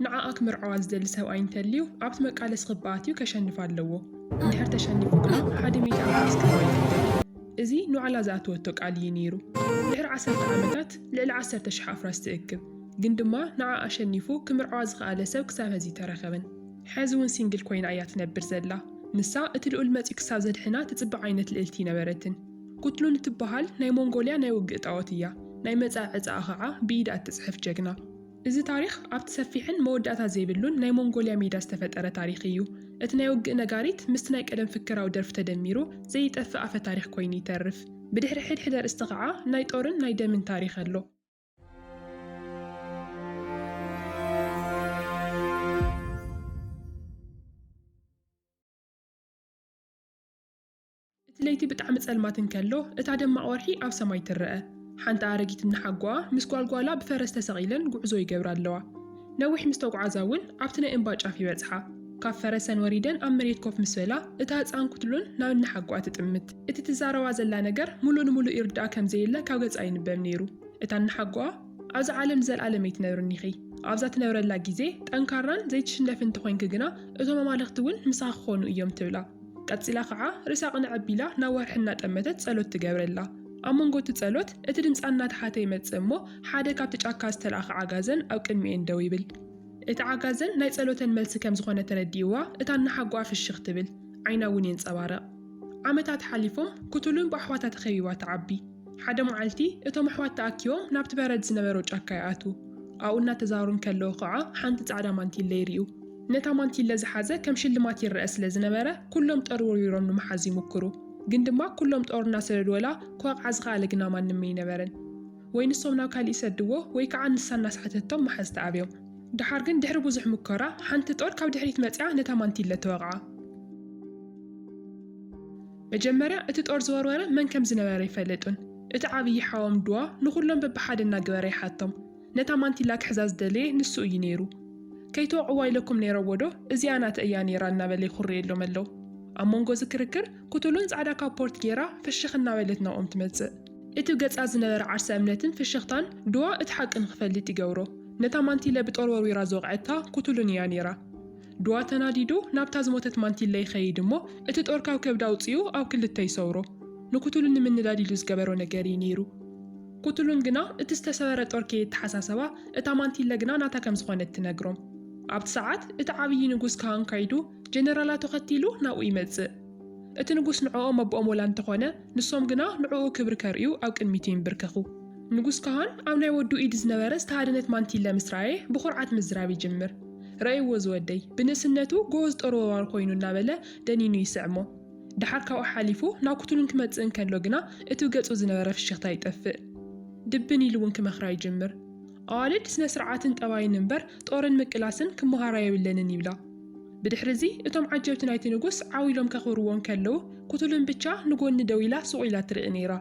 ንዓኣ ክምርዓዋ ዝደሊ ሰብኣይ እንተልዩ ኣብቲ መቃለሲ ክባ ኣትዩ ከሸንፋ ኣለዎ። እንድሕር ተሸኒፉ ግና ሓደ ሚእቲ ኣውቶቡስ ክባ ይግደድ። እዚ ንባዕላ ዝኣተወቶ ቃል ኢዩ ነይሩ። ድሕሪ ዓሰርተ ዓመታት ልዕሊ ዓሰርተ ሽሕ ኣፍራስ ትእክብ። ግን ድማ ንዓኣ ኣሸኒፉ ክምርዓዋ ዝኸኣለ ሰብ ክሳብ ሀዚ ኣይተረኸበን። ሐዚ እውን ሲንግል ኮይና ኢያ ትነብር ዘላ። ንሳ እቲ ልኡል መጺኡ ክሳብ ዘድሕና ትጽበ ዓይነት ልእልቲ ኣይነበረትን። ኩትሉን እትበሃል ናይ ሞንጎልያ ናይ ውግእ ጣኦት ኢያ። ናይ መጻኢ ዕጻኣ ኸዓ ብኢዳ እትጽሕፍ ጀግና። እዚ ታሪኽ ኣብቲ ሰፊሕን መወዳእታ ዘይብሉን ናይ ሞንጎልያ ሜዳ ዝተፈጠረ ታሪኽ ኢዩ። እቲ ናይ ውግእ ነጋሪት ምስቲ ናይ ቀደም ፍከራዊ ደርፊ ተደሚሩ ዘይጠፍእ ኣፈ-ታሪኽ ኮይኑ ይተርፍ። ብድሕሪ ሕድሕድ ኣርእስቲ ከኣ ናይ ጦርን ናይ ደምን ታሪኽ ኣሎ። እቲ ለይቲ ብጣዕሚ ጸልማት እንከሎ፣ እታ ደማቕ ወርሒ ኣብ ሰማይ ትረኣ። ሓንቲ ኣረጊት እንሓጎኣ ምስ ጓልጓላ ብፈረስ ተሰቒለን ጉዕዞ ይገብራ ኣለዋ። ነዊሕ ምስ ተጉዓዛ እውን ኣብቲ ናይ እምባ ጫፍ ይበጽሓ። ካብ ፈረሰን ወሪደን ኣብ መሬት ኮፍ ምስ በላ፣ እታ ህጻን ኩትሉን ናብ እንሓጎኣ ትጥምት። እቲ ትዛረባ ዘላ ነገር ምሉእ ንምሉእ ይርድኣ ከም ዘየለ ካብ ገጻ ይንበብ ነይሩ። እታ እንሓጎኣ፣ ኣብዛ ዓለም ንዘልኣለም ኣይትነብርን ኢኺ። ኣብዛ ትነብረላ ግዜ ጠንካራን ዘይትሽነፍን እንተኾይንኪ ግና እቶም ኣማልኽቲ እውን ምሳኺ ክኾኑ እዮም ትብላ። ቀጺላ ኸዓ ርእሳ ቅንዕ ኣቢላ ናብ ወርሒ እናጠመተት ጸሎት ትገብረላ። ኣብ መንጎ እቲ ጸሎት እቲ ድምጻ እናተሓተ ይመጽእ እሞ ሓደ ካብቲ ጫካ ዝተላእከ ዓጋዘን ኣብ ቅድሚኤን ደው ይብል። እቲ ዓጋዘን ናይ ጸሎተን መልሲ ከም ዝኾነ ተረዲእዋ እታ እናሓጎኣ ፍሽኽ ትብል፣ ዓይና እውን የንጸባርቕ። ዓመታት ሓሊፎም ክቱሉን ብኣሕዋታ ተኸቢባ ትዓቢ። ሓደ መዓልቲ እቶም ኣሕዋት ተኣኪቦም ናብቲ በረድ ዝነበሮ ጫካ ይኣትዉ። ኣብኡ እናተዛሩ እንከለዉ ኸዓ ሓንቲ ጻዕዳ ማንቲለ ይርእዩ። ነታ ማንቲለ ዝሓዘ ከም ሽልማት ይረኣ ስለ ዝነበረ ኩሎም ጠርውርዊሮም ንምሓዝ ይሙክሩ ግን ድማ ኩሎም ጦር እናሰደዱወላ ክወቕዓ ዝኸኣለ ግና ማንም እይነበረን ወይ ንሶም ናብ ካሊእ ይሰድዎ ወይ ከዓ ንሳ እናስሓተቶም ምሓዝ ተኣብዮም ደሓር ግን ድሕሪ ብዙሕ ሙከራ ሓንቲ ጦር ካብ ድሕሪት መፂኣ ነታ ማንቲለ ተወቕዓ። መጀመርያ እቲ ጦር ዝወርወረ መን ከም ዝነበረ ኣይፈለጡን እቲ ዓብዪ ሓዎም ድዋ ንኹሎም በብሓደ እናገበረ ይሓቶም ነታ ማንቲላ ክሕዛ ዝደለየ ንሱ እዩ ነይሩ። ከይትወቕዕዋ ኢለኩም ነይረዎዶ? እዚኣ ናተ እያ ነይራ እናበለ ይኹርየሎም ኣሎ። ኣብ መንጎ እዚ ክርክር፣ ኩቱሉን ጻዕዳ ካፖርት ገይራ ፍሽኽ እናበለት ናብኦም ትመጽእ። እቲ ገጻ ዝነበረ ዓርሰ እምነትን ፍሽኽታን ዱዋ እቲ ሓቂ ንኽፈልጥ ይገብሮ። ነታ ማንቲለ ብጦር ወርዊራ ዝወቕዐታ ኩቱሉን እያ ነይራ። ዱዋ ተናዲዱ ናብታ ዝሞተት ማንቲለ ይኸይድ እሞ እቲ ጦር ካብ ከብዳ ኣውጺኡ ኣብ ክልተ ይሰውሮ። ንኩቱሉን ንምንዳድ ኢሉ ዝገበሮ ነገር እዩ ነይሩ። ኩትሉን ግና እቲ ዝተሰበረ ጦር ከየተሓሳሰባ እታ ማንቲለ ግና ናታ ከም ዝኾነት ትነግሮም። ኣብቲ ሰዓት እቲ ዓብዪ ንጉስ ካህን ከይዱ ጀነራላቱ ከቲሉ ናብኡ ይመጽእ። እቲ ንጉስ ንዕኦም ኣቦኦም ወላ እንተኾነ ንሶም ግና ንዕኡ ክብሪ ከርእዩ ኣብ ቅድሚቱ ይንብርከኹ። ንጉስ ካህን ኣብ ናይ ወዱ ኢድ ዝነበረ ዝተሃደነት ማንቲለ ምስ ረኣየ ብኹርዓት ምዝራብ ይጅምር። ረእይዎ ዝወደይ! ብንእስነቱ ጎበዝ ጦር ወርዋር ኮይኑ እናበለ ደኒኑ ይስዕሞ። ደሓር ካብኡ ሓሊፉ ናኩትሉን ክመጽእ እንከሎ ግና እቱ ገጹ ዝነበረ ፍሽኽታ ይጠፍእ። ድብን ኢሉ'ውን ክመኽራ ይጅምር። ኣዋልድ ስነስርዓትን ጠባይን እምበር ጦርን ምቅላስን ክመሃራ የብለንን ይብላ። ብድሕሪ'ዚ እቶም ዓጀብቲ ናይቲ ንጉስ ዓው ኢሎም ከኽብርዎ እንከለዉ ኩትሉን ብቻ ንጎኒ ደው ኢላ ሱቕ ኢላ ትርኢ ነይራ።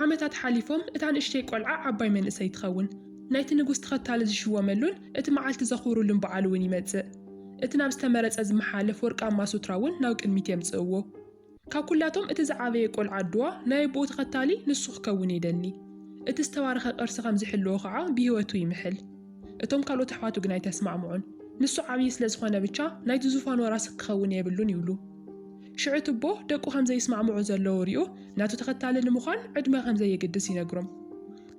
ዓመታት ሓሊፎም እታ ንእሽተይ ቆልዓ ዓባይ መንእሰይ ትኸውን። ናይቲ ንጉስ ተኸታሊ ዝሽወመሉን እቲ መዓልቲ ዘኽብሩሉን በዓል'ውን ይመጽእ። እቲ ናብ ዝተመረጸ ዝመሓለፍ ወርቃማ ሱትራ እውን ናብ ቅድሚት የምጽእዎ። ካብ ኩላቶም እቲ ዝዓበየ ቆልዓ ኣዱዋ ናይ ኣቡኡ ተኸታሊ ንሱ ክከውን የደሊ። እቲ ዝተባረኸ ቅርሲ ከም ዝሕልዎ ከኣ ብህይወቱ ይምሕል። እቶም ካልኦት ኣሕዋቱ ግን ኣይተስማዕምዑን። ንሱ ዓብዪ ስለ ዝኾነ ብቻ ናይቲ ዙፋን ወራሲ ክኸውን የብሉን ይብሉ። ሽዑ እቲ ኣቦ ደቁ ከም ዘይስማዕምዑ ዘለዉ ሪኡ ናቱ ተኸታሊ ንምዃን ዕድመ ከም ዘየግድስ ይነግሮም።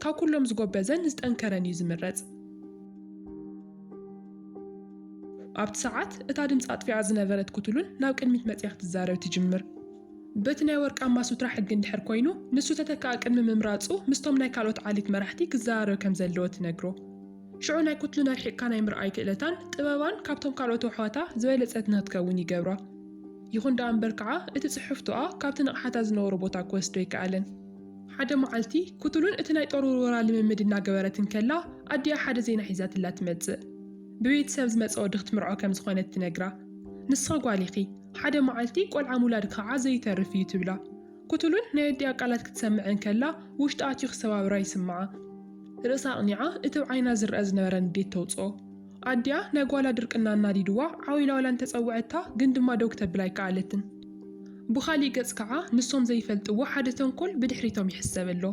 ካብ ኩሎም ዝጎበዘን ዝጠንከረን እዩ ዝምረጽ። ኣብቲ ሰዓት እታ ድምጺ ኣጥፊኣ ዝነበረት ኩትሉን ናብ ቅድሚት መጺኣ ክትዛረብ ትጅምር። በቲ ናይ ወርቃማ ሱትራ ሕጊ እንድሕር ኮይኑ ንሱ ተተካኢ ቅድሚ ምምራጹ ምስቶም ናይ ካልኦት ዓሌት መራሕቲ ክዘራረብ ከም ዘለዎ ትነግሮ። ሽዑ ናይ ኩትሉን ኣርሒቕካ ናይ ምርኣይ ክእለታን ጥበባን ካብቶም ካልኦት ኣሕዋታ ዝበለጸት ንክትከውን ይገብራ። ይኹን ደኣ እምበር ከኣ እቲ ጽሕፍቶኣ ካብቲ ንቕሓታ ዝነበሮ ቦታ ክወስዶ ኣይከኣለን። ሓደ መዓልቲ፣ ኩቱሉን እቲ ናይ ጦር ውርወራ ልምምድ እናገበረት እንከላ፣ ኣዲኣ ሓደ ዜና ሒዛትላ ትመጽእ። ብቤትሰብ ዝመጸ ወዲ ክትምርዖ ከም ዝኾነት ትነግራ። ንስኺ ጓል ኢኺ፣ ሓደ መዓልቲ ቆልዓ ምውላድ ክኣ ዘይተርፍ እዩ ትብላ። ኩቱሉን ናይ ኣዲኣ ቃላት ክትሰምዕ እንከላ ውሽጣ ኣትዩ ክሰባብራ ይስምዓ። ርእሳ ኣቕኒዓ እቲ ብ ዓይና ዝርኣ ዝነበረ ንዴት ተውጽኦ። ኣዲኣ ናይ ጓላ ድርቅና ኣናዲድዋ ዓው ኢላ ዋላ እንተጸውዐታ ግን ድማ ደው ክተብል ኣይከኣለትን። ብኻሊእ ገጽ ከኣ ንሶም ዘይፈልጥዎ ሓደ ተንኮል ብድሕሪቶም ይሕሰብ ኣሎ።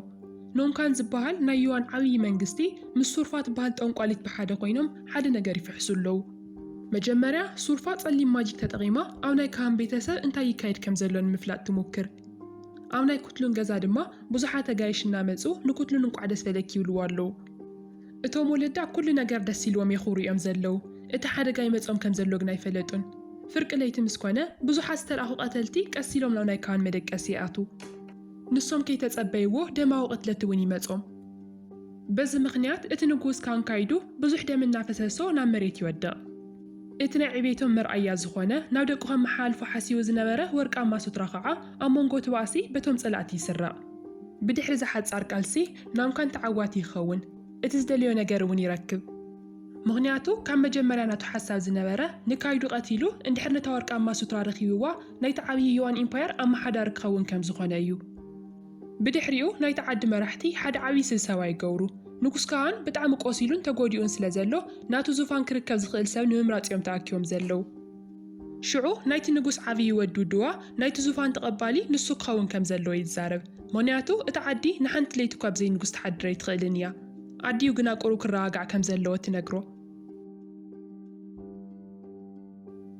ኖንካን ዝበሃል ናይ ዩዋን ዓብዪ መንግስቲ ምስ ሱርፋ ትበሃል ጠንቋሊት ብሓደ ኮይኖም ሓደ ነገር ይፍሕሱ ኣለዉ። መጀመርያ ሱርፋ ጸሊም ማጂክ ተጠቒማ ኣብ ናይ ካሃን ቤተሰብ እንታይ ይካየድ ከም ዘሎ ንምፍላጥ ትሙክር። ኣብ ናይ ኩትሉን ገዛ ድማ ብዙሓት ኣጋይሽ እናመጹ ንኩትሉን እንቋዕ ደስ በለኪ ይብልዋ ኣለዉ። እቶም ወለዳ ኩሉ ነገር ደስ ኢልዎም የኹብሩ እዮም ዘለዉ፣ እቲ ሓደጋ ይመጾም ከም ዘሎ ግን ኣይፈለጡን። ፍርቂ ለይቲ ምስ ኮነ፣ ብዙሓት ዝተልኣኹ ቀተልቲ ቀስ ኢሎም ናብ ናይ ካህን መደቀሲ ይኣትዉ። ንሶም ከይተጸበይዎ ደማዊ ቅትለት እውን ይመጾም። በዚ ምኽንያት እቲ ንጉስ ካህን ካይዱ ብዙሕ ደም እናፈሰሶ ናብ መሬት ይወድቕ። እቲ ናይ ዕቤቶም መርኣያ ዝኾነ ናብ ደቁ ከመሓላልፎ ሓሲቡ ዝነበረ ወርቃማ ሱትራ ከኣ ኣብ መንጎ እቲ ባእሲ በቶም ጸላእቲ ይስረቕ። ብድሕሪ እዚ ሓጻር ቃልሲ፣ ናምካን ተዓዋቲ ይከውን እቲ ዝደለዮ ነገር እውን ይረክብ ምክንያቱ ካብ መጀመርያ ናቱ ሓሳብ ዝነበረ ንካይዱ ቀቲሉ እንድሕር ነታ ወርቃማ ሱትራ ረኪብዋ ናይቲ ዓብዪ ዮዋን ኢምፓየር ኣማሓዳሪ ክከውን ከምዝኮነ እዩ ብድሕሪኡ ናይቲ ዓዲ መራሕቲ ሓደ ዓብዪ ስብሰባ ይገብሩ ንጉስ ከኣን ብጣዕሚ ቆሲሉን ተጎዲኡን ስለዘሎ ናቱ ዙፋን ክርከብ ዝክእል ሰብ ንምምራፅ እዮም ተኣኪቦም ዘለው ሽዑ ናይቲ ንጉስ ዓብዪ ወድ ውድዋ ናይቲ ዙፋን ተቐባሊ ንሱ ክኸውን ከም ዘለዎ ይዛረብ። ምኽንያቱ እታ ዓዲ ንሓንቲ ለይቲ እኳ ብዘይ ንጉስ ትሓድር ኣይትኽእልን እያ። ኣዲኡ ግና ቁሩብ ክረጋጋዕ ከም ዘለዎ ትነግሮ።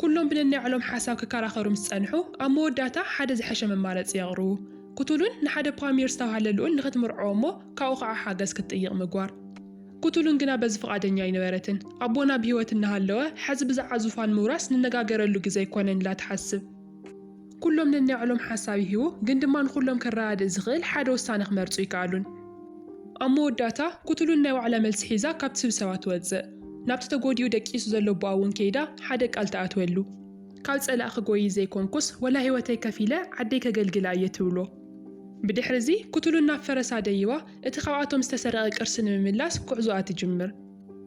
ኩሎም ብነናይ ባዕሎም ሓሳብ ክከራኸሩ ምስ ጸንሑ፣ ኣብ መወዳእታ ሓደ ዝሐሸ መማረጺ የቕርቡ። ኩቱሉን ንሓደ ፓሚር ዝተባህለ ልኡል ንኽትምርዖ እሞ ካብኡ ኸኣ ሓገዝ ክትጥይቕ ምግባር። ኩቱሉን ግና በዚ ፍቓደኛ ኣይነበረትን። ኣቦና ብህይወት እናሃለወ ሐዚ ብዛዓ ዙፋን ምውራስ ንነጋገረሉ ግዘ ኣይኮነን ኢላ ትሓስብ። ኩሎም ነናይዕሎም ሓሳብ ይህቡ ግን ድማ ንኹሎም ከረዳድእ ዝኽእል ሓደ ውሳነ ክመርፁ ኣይከኣሉን። ኣብ መወዳእታ ኩቱሉን ናይ ባዕላ መልሲ ሒዛ ካብቲ ስብሰባ ትወፅእ። ናብቲ ተጎዲኡ ደቂሱ ዘሎ ኣቦኣ እውን ከይዳ ሓደ ቃል ትኣትወሉ። ካብ ፀላእ ክጎይይ ዘይኮንኩስ ወላ ህይወተይ ከፊለ ዓደይ ከገልግላ እየ ትብሎ። ብድሕሪ እዚ ኩቱሉን ናብ ፈረሳ ደይባ እቲ ካብኣቶም ዝተሰረቐ ቅርሲ ንምምላስ ጉዕዞኣ ትጅምር።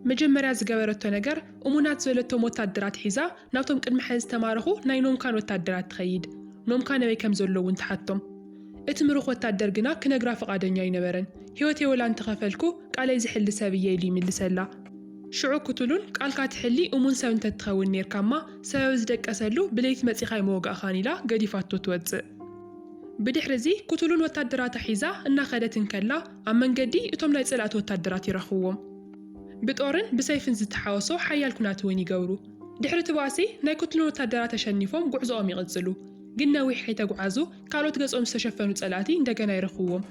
መጀመርያ ዝገበረቶ ነገር እሙናት ዝበለቶም ወታደራት ሒዛ ናብቶም ቅድሚ ሐዚ ዝተማረኹ ናይ ኖምካን ወታደራት ትኸይድ። ኖምካን ኣበይ ከምዘለዉ እውን ትሓቶም። እቲ ምሩኽ ወታደር ግና ክነግራ ፍቓደኛ ኣይነበረን። ህይወተይ ወላ እንተኸፈልኩ ቃለይ ዝሕሊ ሰብ እየ ኢሉ ይምልሰላ። ሽዑ ኩቱሉን ቃልካ ትሕሊ እሙን ሰብ እንተትኸውን ኔርካማ ሰበብ ዝደቀሰሉ ብለይቲ መፂእኻ ኣይምወጋእኻን ኢላ ገዲፋቶ ትወፅእ። ብድሕሪ እዚ ኩቱሉን ወታደራታ ሒዛ እናኸደት እንከላ ኣብ መንገዲ እቶም ናይ ጸላእቲ ወታደራት ይረኽብዎም። ብጦርን ብሰይፍን ዝተሓወሶ ሓያል ኩናት እውን ይገብሩ። ድሕሪ እቲ ባእሲ ናይ ኩቱሉን ወታደራት ኣሸኒፎም ጉዕዞኦም ይቕጽሉ። ግን ነዊሕ ከይተጉዓዙ ካልኦት ገጾም ዝተሸፈኑ ጸላእቲ እንደገና ይረኽብዎም።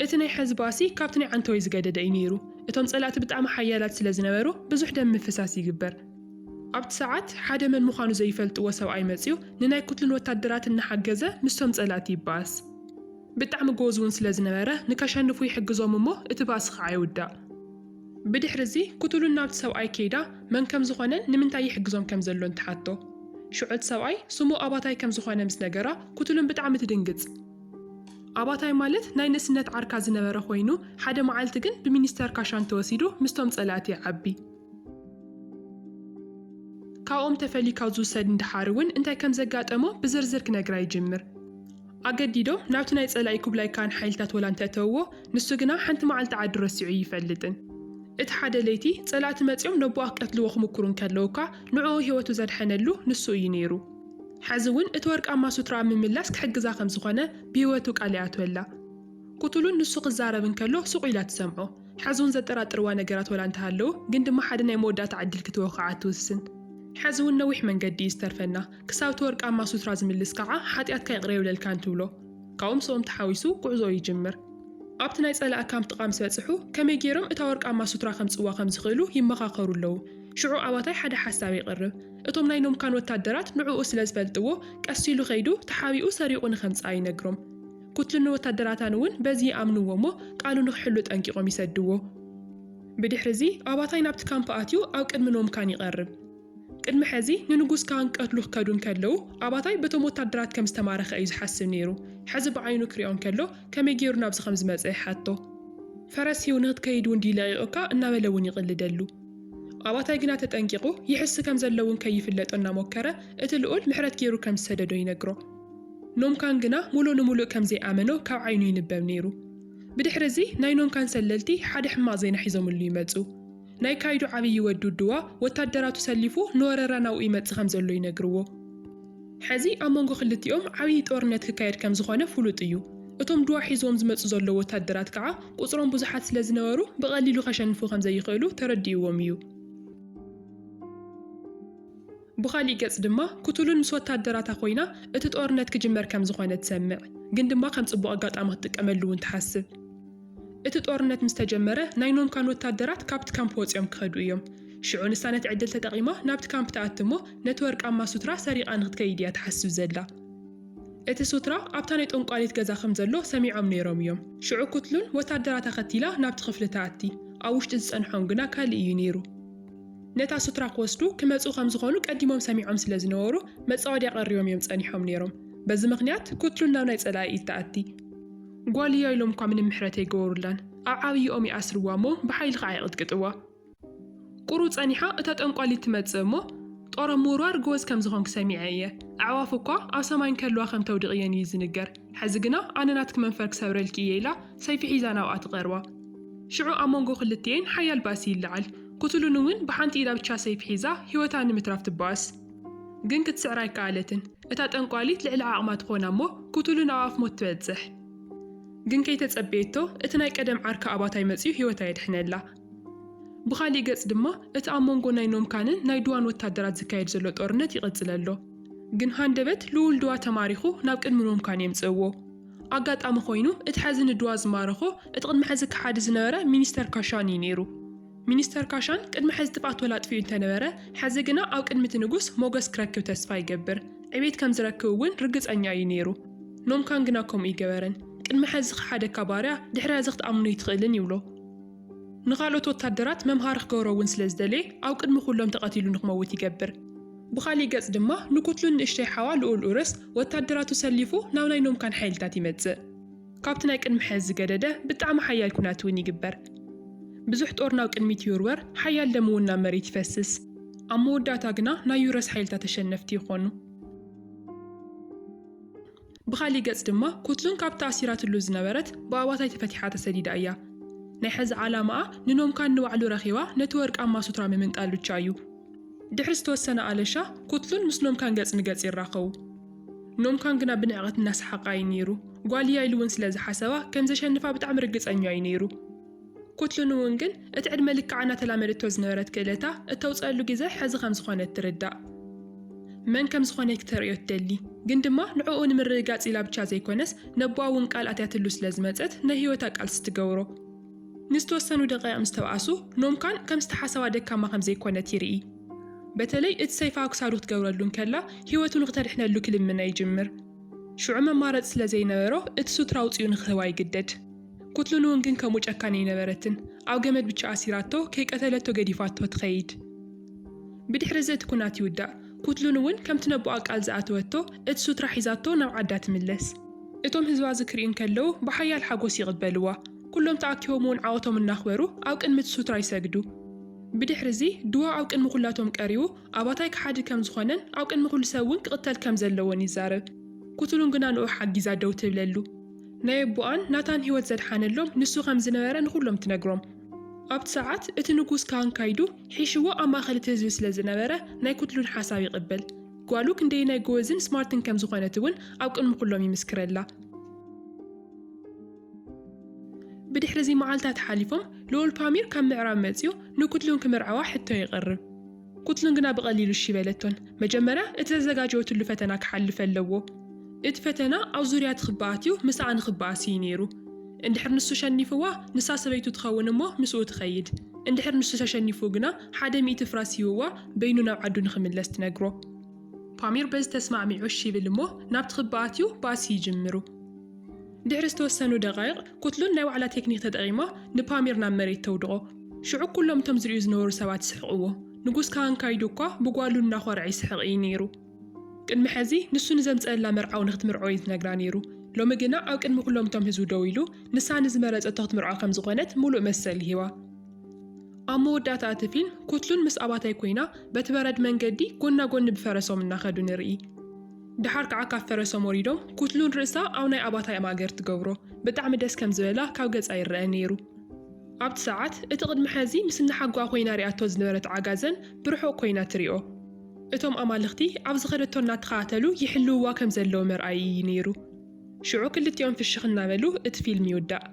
እቲ ናይ ሐዚ ባእሲ ካብቲ ናይ ዓንተወይ ዝገደደ እዩ ነይሩ። እቶም ጸላእቲ ብጣዕሚ ሓያላት ስለዝነበሩ ብዙሕ ደም ምፍሳስ ይግበር። ኣብቲ ሰዓት፣ ሓደ መን ምዃኑ ዘይፈልጥዎ ሰብኣይ መጺኡ፣ ንናይ ኩትልን ወታደራት እናሓገዘ ምስቶም ጸላእቲ ይበኣስ። ብጣዕሚ ጎወዝ'ውን ስለ ዝነበረ፣ ንከሸንፉ ይሕግዞም እሞ እቲ ባእሲ ኸዓ ይውዳእ። ብድሕሪ'ዚ፣ ኩትሉን ናብቲ ሰብኣይ ከይዳ፣ መን ከም ዝኾነን ንምንታይ ይሕግዞም ከም ዘሎን ትሓቶ። ሽዑ'ቲ ሰብኣይ፣ ስሙ ኣባታይ ከም ዝኾነ ምስ ነገራ፣ ኩትሉን ብጣዕሚ ትድንግጽ። ኣባታይ ማለት ናይ ንእስነት ዓርካ ዝነበረ ኮይኑ፣ ሓደ መዓልቲ ግን ብሚኒስተር ካሻን ተወሲዱ ምስቶም ጸላእቲ ይዓቢ። ካብኦም ተፈሊካ ዝውሰድ እንድሓር እውን እንታይ ከም ዘጋጠሞ ብዝርዝር ክነግራ ይጅምር። ኣገዲዶም ናብቲ ናይ ጸላኢ ኩብላይ ካን ሓይልታት ወላ እንተእተውዎ ንሱ ግና ሓንቲ መዓልቲ ዓዱ ረሲዑ ኣይፈልጥን። እቲ ሓደ ለይቲ ጸላእቲ መጺኦም ነቦኣ ክቀትልዎ ክሙኩሩ እንከለዉ እኳ ንዕኡ ህይወቱ ዘድሐነሉ ንሱ እዩ ነይሩ። ሐዚ እውን እቲ ወርቃማ ሱትራኣ ኣብ ምምላስ ክሕግዛ ከም ዝኾነ ብህይወቱ ቃል ይኣትወላ። ክትሉን ንሱ ክዛረብ እንከሎ ስቕ ኢላ ትሰምዖ። ሐዝውን ዘጠራጥርዋ ነገራት ወላ እንተሃለዉ ግን ድማ ሓደ ናይ መወዳእታ ዕድል ክትህቦ ክዓ ትውስን። ሐዝውን ነዊሕ መንገዲ እዩ ዝተርፈና። ክሳብቲ ወርቃማ ሱትራ ዝምልስ ክዓ ሓጥያትካ ይቕረ ይብለልካ እንትብሎ። ካብኡ ምስኦም ተሓዊሱ ጉዕዞኡ ይጅምር። ኣብቲ ናይ ፀላኢ ካምፕ ጥቓ ምስ በፅሑ ከመይ ገይሮም እታ ወርቃማ ሱትራ ከምፅእዋ ከምዝኽእሉ ይመኻኸሩ ኣለዉ። ሽዑ ኣባታይ ሓደ ሓሳብ የቕርብ። እቶም ናይ ኖምካን ወታደራት ንዕኡ ስለዝፈልጥዎ ቀስ ኢሉ ከይዱ ተሓቢኡ ሰሪቑ ንከምፅኣ ይነግሮም። ኩትልን ወታደራታን እውን በዚ ይኣምንዎ እሞ ቃሉ ንክሕሉ ጠንቂቖም ይሰድዎ። ብድሕርዚ ኣባታይ ናብቲ ካምፕ ኣትዩ ኣብ ቅድሚ ኖም ካን ይቐርብ። ቅድሚ ሕዚ ንንጉስ ካን ክቀትሉ ክከዱ እንከለዉ ኣባታይ በቶም ወታደራት ከም ዝተማረኸ እዩ ዝሓስብ ነይሩ። ሕዚ ብዓይኑ ክሪኦ እንከሎ ከመይ ገይሩ ናብዚ ከም ዝመጸ ይሓቶ። ፈረስ ሂቡ ንክትከይድ እውን ድዩ ለቒቑካ እናበለ እውን ይቕልደሉ። ኣባታይ ግና ተጠንቂቑ ይሕስ ከም ዘሎ እውን ከይፍለጦ እናሞከረ እቲ ልኡል ምሕረት ገይሩ ከም ዝሰደዶ ይነግሮ። ኖምካን ግና ምሉእ ንምሉእ ከም ዘይኣመኖ ካብ ዓይኑ ይንበብ ነይሩ። ብድሕሪ እዚ ናይ ኖምካን ሰለልቲ ሓደ ሕማቕ ዜና ሒዞምሉ ይመጹ። ናይ ካይዱ ዓብዪ ወዲ ውድዋ ወታደራቱ ሰሊፉ ንወረራ ናብኡ ይመጽእ ከም ዘሎ ይነግርዎ። ሕዚ ኣብ መንጎ ክልቲኦም ዓብዪ ጦርነት ክካየድ ከም ዝዀነ ፍሉጥ እዩ። እቶም ድዋ ሒዝዎም ዝመጹ ዘለዉ ወታደራት ከኣ ቍጽሮም ብዙሓት ስለ ዝነበሩ ብቐሊሉ ከሸንፉ ከም ዘይኽእሉ ተረዲእዎም እዩ። ብኻሊእ ገጽ ድማ ኩቱሉን ምስ ወታደራታ ኮይና እቲ ጦርነት ክጅመር ከም ዝኾነ ትሰምዕ ግን ድማ ከም ጽቡቕ ኣጋጣሚ ክትጥቀመሉ ውን ትሓስብ እቲ ጦርነት ምስ ተጀመረ ናይ ኖምካን ወታደራት ካብቲ ካምፕ ወጺኦም ክኸዱ እዮም ሽዑ ንሳ ነቲ ዕድል ተጠቒማ ናብቲ ካምፕ ትኣቲ እሞ ነቲ ወርቃማ ሱትራ ሰሪቓ ንክትከይድ እያ ትሓስብ ዘላ እቲ ሱትራ ኣብታ ናይ ጦንቋሊት ገዛ ከም ዘሎ ሰሚዖም ነይሮም እዮም ሽዑ ኩትሉን ወታደራታ ከቲላ ናብቲ ክፍሊ ትኣቲ ኣብ ውሽጢ ዝጸንሖም ግና ካልእ እዩ ነይሩ። ነታ ሱትራ ክወስዱ ክመጽኡ ከም ዝኾኑ ቀዲሞም ሰሚዖም ስለ ዝነበሩ መጻወድያ ቀሪቦም እዮም ጸኒሖም ነይሮም። በዚ ምኽንያት ኩትሉን ናብ ናይ ጸላኢ ኢድ ትኣቲ። ጓል እያ ኢሎም እኳ ምንም ምሕረት ኣይገበሩላን። ኣብ ዓብይኦም ይኣስርዋ እሞ ብሓይሊ ኸዓ ይቕጥቅጥዋ። ቁሩብ ጸኒሓ እታ ጠንቋሊት ትመጽእ እሞ ጦር ኣብ ምውርዋር ጎበዝ ከም ዝኾንኪ ሰሚዐ እየ። ኣዕዋፍ እኳ ኣብ ሰማይ እንከለዋ ከም ተውድቕየን እዩ ዝንገር። ሕዚ ግና ኣነ ናትኪ መንፈር ክሰብረልኪ እየ ኢላ ሰይፊ ሒዛ ናብኣ ትቐርባ። ሽዑ ኣብ መንጎ ክልቲኤን ሓያል ባእሲ ይለዓል። ኩትሉን እውን ብሓንቲ ኢዳ ብቻ ሰይፊ ሒዛ ህይወታ ንምትራፍ ትባኣስ። ግን ክትስዕራ ኣይከኣለትን። እታ ጠንቋሊት ልዕሊ ዓቕማ ትኾና እሞ ኩትሉን ኣብ ኣፍ ሞት ትበጽሕ። ግን ከይተጸበየቶ እቲ ናይ ቀደም ዓርካ ኣባታይ መጺኡ ህይወታ የድሕነላ። ብኻሊእ ገጽ ድማ እቲ ኣብ መንጎ ናይ ኖምካንን ናይ ዱዋን ወታደራት ዝካየድ ዘሎ ጦርነት ይቕጽል ኣሎ። ግን ሃንደበት ልኡል ዱዋ ተማሪኹ ናብ ቅድሚ ኖምካን የምጽእዎ። ኣጋጣሚ ኮይኑ እቲ ሐዚ ንድዋ ዝማረኾ እቲ ቅድሚ ሐዚ ከሓዲ ዝነበረ ሚኒስተር ካሻን እዩ ነይሩ። ሚኒስተር ካሻን ቅድሚ ሐዚ ትብኣቶል ኣጥፊኡ እንተነበረ ሐዚ ግና ኣብ ቅድሚ እቲ ንጉስ ሞገስ ክረክብ ተስፋ ይገብር ዕቤት ከምዝረክብ እውን ርግፀኛ እዩ ነይሩ። ኖምካን ግና ከምኡ ኣይገበረን ቅድሚ ሐዚ ዝኸሓደካ ባርያ ድሕሪ ሐዚ ክትኣምኖ ኣይትኽእልን ይብሎ። ንኻልኦት ወታደራት መምሃሪ ክገብሮ እውን ስለዝደለየ ኣብ ቅድሚ ኩሎም ተቐቲሉ ንክመውት ይገብር። ብኻሊእ ገጽ ድማ ንኩትሉን ንእሽተይ ሓዋ ልኡል ኡረስ ወታደራቱ ሰሊፉ ናብ ናይ ኖምካን ሓይልታት ይመጽእ። ካብቲ ናይ ቅድሚ ሐዚ ዝገደደ ብጣዕሚ ሓያል ኩናት እውን ይግበር። ብዙሕ ጦር ናብ ቅድሚት ይውርወር፣ ሓያል ደም እውን ናብ መሬት ይፈስስ። ኣብ መወዳእታ ግና ናይ ኡረስ ሓይልታት ተሸነፍቲ ይኾኑ። ብኻሊእ ገፅ ድማ ኩትሉን ካብታ ኣሲራትሉ ዝነበረት ብኣባታይ ተፈቲሓ ተሰዲዳ እያ። ናይ ሐዚ ዓላማኣ ንኖምካን ንባዕሉ ረኺባ ነቲ ወርቃማ ሱትራ ምምንጣል ብቻ እዩ። ድሕሪ ዝተወሰነ ኣለሻ ኩትሉን ምስ ኖምካን ገፅ ንገፅ ይራኸቡ። ኖምካን ግና ብንዕቐት እናሰሓቐ ኣዩ ነይሩ። ጓል እያ ኢሉ እውን ስለዝሓሰባ ከምዘሸንፋ ብጣዕሚ ርግፀኛ እዩ ነይሩ። ኩትሉን እውን ግን እቲ ዕድመ ልክዓ እናተላመደቶ ዝነበረት ክእለታ እተውጽኣሉ ግዘ ሕዚ ከም ዝኾነ እትርዳእ። መን ከም ዝኾነ ክተርእዮ ትደሊ። ግን ድማ ንዕኡ ንምርግጋጽ ኢላ ብቻ ዘይኮነስ ነቦኣ እውን ቃል ኣትያትሉ ስለ ዝመጸት ናይ ህይወታ ቃልሲ ትገብሮ። ንዝተወሰኑ ደቓይቕ ምስ ተብኣሱ ኖምካን ከም ዝተሓሰባ ደካማ ከም ዘይኮነት ይርኢ። በተለይ እቲ ሰይፋ ኣብ ክሳዱ ክትገብረሉ እንከላ ህይወቱ ንክተድሕነሉ ክልምና ይጅምር። ሽዑ መማረጺ ስለ ዘይነበሮ እቲ ሱትራ ኣውጺኡ ንክህባ ይግደድ። ኩትሉንውን ግን ከምኡ ጨካን ኣይነበረትን ኣብ ገመድ ብቻ ኣሲራቶ ከይቀተለቶ ገዲፋቶ ትኸይድ ብድሕሪዚ እቲ ኩናት ይውዳእ ኩትሉን እውን ከምቲ ነቦኣ ቃል ዝኣተወቶ እቲ ሱትራ ሒዛቶ ናብ ዓዳ ትምለስ። እቶም ህዝባ እዚ ክሪኡ እንከለዉ ብሓያል ሓጎስ ይቕበልዋ ኩሎም ተኣኪቦም እውን ዓወቶም እናኽበሩ ኣብ ቅድሚ እቲ ሱትራ ይሰግዱ። ብድሕሪዚ ድዋ ኣብ ቅድሚ ኩላቶም ቀሪቡ ኣባታይ ከሓዲ ከም ዝኾነን ኣብ ቅድሚ ኩሉ ሰብ እውን ክቕተል ከም ዘለዎን ይዛረብ ኩትሉን ግና ንኡ ሓጊዛ ደው ትብለሉ። ናይ ኣቦኣን ናታን ህይወት ዘድሓነሎም ንሱ ኸም ዝነበረ ንዅሎም ትነግሮም። ኣብቲ ሰዓት እቲ ንጉስ ካህን ካይዱ ሒሽዎ ኣብ ማእከል እቲ ህዝቢ ስለ ዝነበረ ናይ ኵትሉን ሓሳብ ይቕበል። ጓሉ ክንደየናይ ጎበዝን ስማርትን ከም ዝዀነት እውን ኣብ ቅድሚ ኵሎም ይምስክረላ። ብድሕሪ እዚ መዓልትታት ሓሊፎም ልኡል ፓሚር ካብ ምዕራብ መጺኡ ንኵትሉን ክምርዐዋ ሕቶ የቕርብ። ኩትሉን ግና ብቐሊሉ እሺ በለቶን። መጀመርያ እቲ ተዘጋጀወትሉ ፈተና ክሓልፍ ኣለዎ። እቲ ፈተና ኣብ ዙርያ እቲ ክባ ኣትዩ ምስኣ ንክበኣስ እዩ ነይሩ። እንድሕር ንሱ ሸኒፍዋ ንሳ ሰበይቱ ትኸውን እሞ ምስኡ ትኸይድ። እንድሕር ንሱ ተሸኒፉ ግና ሓደ ሚእቲ ፍራስ ሂቡዋ በይኑ ናብ ዓዱ ንክምለስ ትነግሮ። ፓሚር በዚ ተስማዕሚዑ እሺ ይብል እሞ ናብቲ ክባ ኣትዩ ባእሲ ይጅምሩ። ድሕሪ ዝተወሰኑ ደቓይቕ፣ ኩትሉን ናይ ዋዕላ ቴክኒክ ተጠቒማ ንፓሚር ናብ መሬት ተውድቖ። ሽዑ ኩሎም እቶም ዝርእዩ ዝነበሩ ሰባት ይስሕቕዎ። ንጉስ ካሃን ካይዱ እኳ ብጓሉ እናኾርዐ ይስሕቕ እዩ ነይሩ። ቅድሚ ሕዚ ንሱ ንዘምጸኣላ መርዓዊ ንክትምርዖ እዩ ዝነግራ ነይሩ። ሎሚ ግና ኣብ ቅድሚ ኩሎም እቶም ህዝቢ ደው ኢሉ ንሳ ንዝመረጸቶ ክትምርዖ ከም ዝኾነት ምሉእ መሰል ይህባ። ኣብ መወዳእታ እቲ ፊልም ኩትሉን ምስ ኣባታይ ኮይና በቲ በረድ መንገዲ ጎና ጎኒ ብፈረሶም እናኸዱ ንርኢ። ድሓር ክዓ ካብ ፈረሶም ወሪዶም ኩትሉን ርእሳ ኣብ ናይ ኣባታይ ኣማእገር ትገብሮ ብጣዕሚ ደስ ከም ዝበላ ካብ ገጻ ይረኣ ነይሩ ኣብቲ ሳዓት እቲ ቅድሚ ሐዚ ምስ እንሓጎኣ ኮይና ሪኣቶ ዝነበረት ዓጋዘን ብርሑቅ ኮይና ትሪኦ እቶም ኣማልኽቲ ኣብ ዝኸደቶ እናተኸታተሉ ይሕልውዋ ከም ዘለዉ መርኣዪ እዩ ነይሩ ሽዑ ክልቲኦም ፍሽኽ እናበሉ እቲ ፊልም ይውዳእ።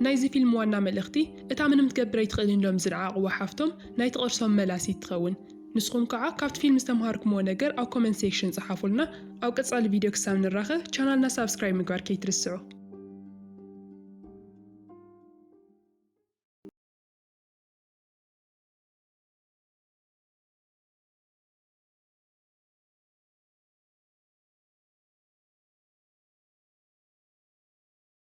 ናይዚ ፊልም ዋና መልእኽቲ እታ ምንም ክትገብር ኣይትኽእልን ኢሎም ዝንዓቅዋ ሓፍቶም ናይ ትቅርሶም መላሲት ትኸውን። ንስኹም ካዓ ካብቲ ፊልም ዝተምሃርኩምዎ ነገር ኣብ ኮመንት ሴክሽን ጸሓፉልና ኣብ ቀጻሊ ቪድዮ ክሳብ ንራኸ ቻናልና ሳብስክራይብ ምግባር ከይትርስዑ።